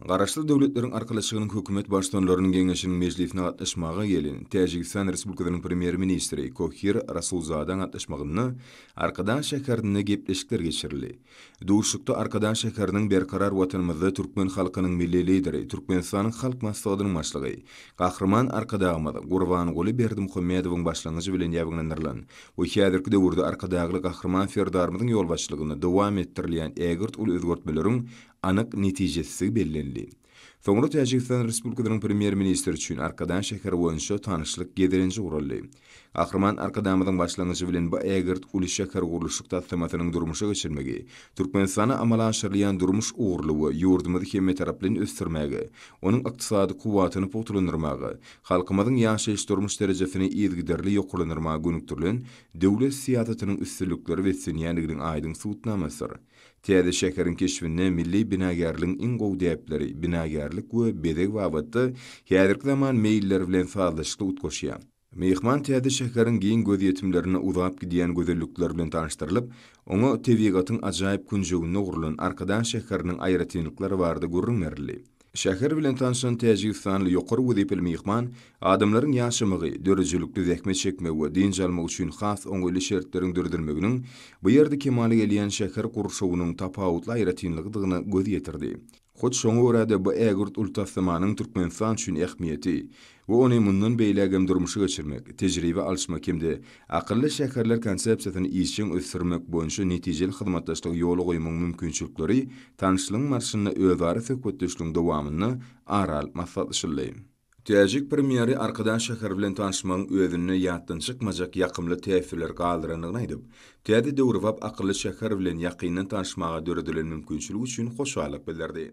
Garaşsyz Döwletleriň Arkalaşygynyň Hökümet Baştutanlarynyň geňeşiniň mejlisine gatnaşmaga gelen Täjigistan Respublikasynyň Premýer-ministri Kohir Rasulzadaň gatnaşmagynda Arkadag şäherinde gepleşikler geçirildi. Duşuşykda Arkadag şäheriniň Berkarar Watanymyzda türkmen halkynyň Milli Lideri, Türkmenistanyň Halk Maslahatynyň Başlygy, Gahryman Arkadagymyz Gurbanguly Berdimuhamedowyň başlangyjy bilen ýabyňlandyrylan we häzirki döwürde Arkadagly Gahryman Serdarymyzyň ýolbaşçylygynda dowam etdirilýän ägirt uly özgertmeleriň anyk netijesizligi bellendi. Soňra Täjigistan Respublikasynyň Premýer-ministri üçin Arkadan şäheri boýunça tanyşlyk gezelenji guraldy. Gahryman Arkadamyzyň başlangyjy bilen bu ägirt uly şähergurluşyk taslamasynyň durmuşa geçirilmegi Türkmenistanda amala aşyrylýan durmuş ugurly we ýurdumyzy hemmetaraplaýyn ösdürmäge, onuň ykdysady kuwwatyny pugtalandyrmaga, halkymyzyň ýaşaýyş-durmuş derejesini yzygiderli ýokarlandyrmaga gönükdirilen döwlet syýasatynyň üstünliklere beslenýändiginiň aýdyň subutnamasydyr. Täze şäheriň keşbinde milli binagärligiň iň gowy däpleri, binagärlik we bezeg babatda häzirki zaman meýilleri bilen sazlaşykly utgaşýar. Myhman täze şäheriň giň gözýetimlerine uzap gidýän gözellikleri bilen tanyşdyrylyp, oňa tebigatyň ajaýyp künjeginde gurlan Arkadag şäheriniň aýratynlyklary barada gürrüň berildi. Şäher bilen tanyşan täjigistanly ýokary wezipeli myhman adamlaryň ýaşamagy, döredijilikli zähmet çekmegi we dynç almagy üçin has oňaýly şertleriň döredilmeginiň bu ýerde kemala gelýän şäher gurşawynyň tapawutly aýratynlygydygyna göz ýetirdi. Hut şoňa görä-de, bu ägirt uly taslamanyň Türkmenistan üçin ähmiýeti, we ony mundan beýläk hem durmuşa geçirmek, tejribe alyşmak hem-de Akylly şäherler konsepsiýasyny işjeň ösdürmek boýunça netijeli hyzmatdaşlygy ýola goýmagyň mümkinçilikleri tanyşlygyň barşynda özara söhbetdeşligiň dowamynda ara alyp maslahatlaşyldy. Täjik Premýeri Arkadag şäheri bilen tanyşmagyň özünde ýatdan çykmajak ýakymly täsirler galdyrandygyny aýdyp, täze döwrebap Akylly şäher bilen ýakyndan tanyşmaga döredilen mümkinçilik üçin hoşallyk bildirdi.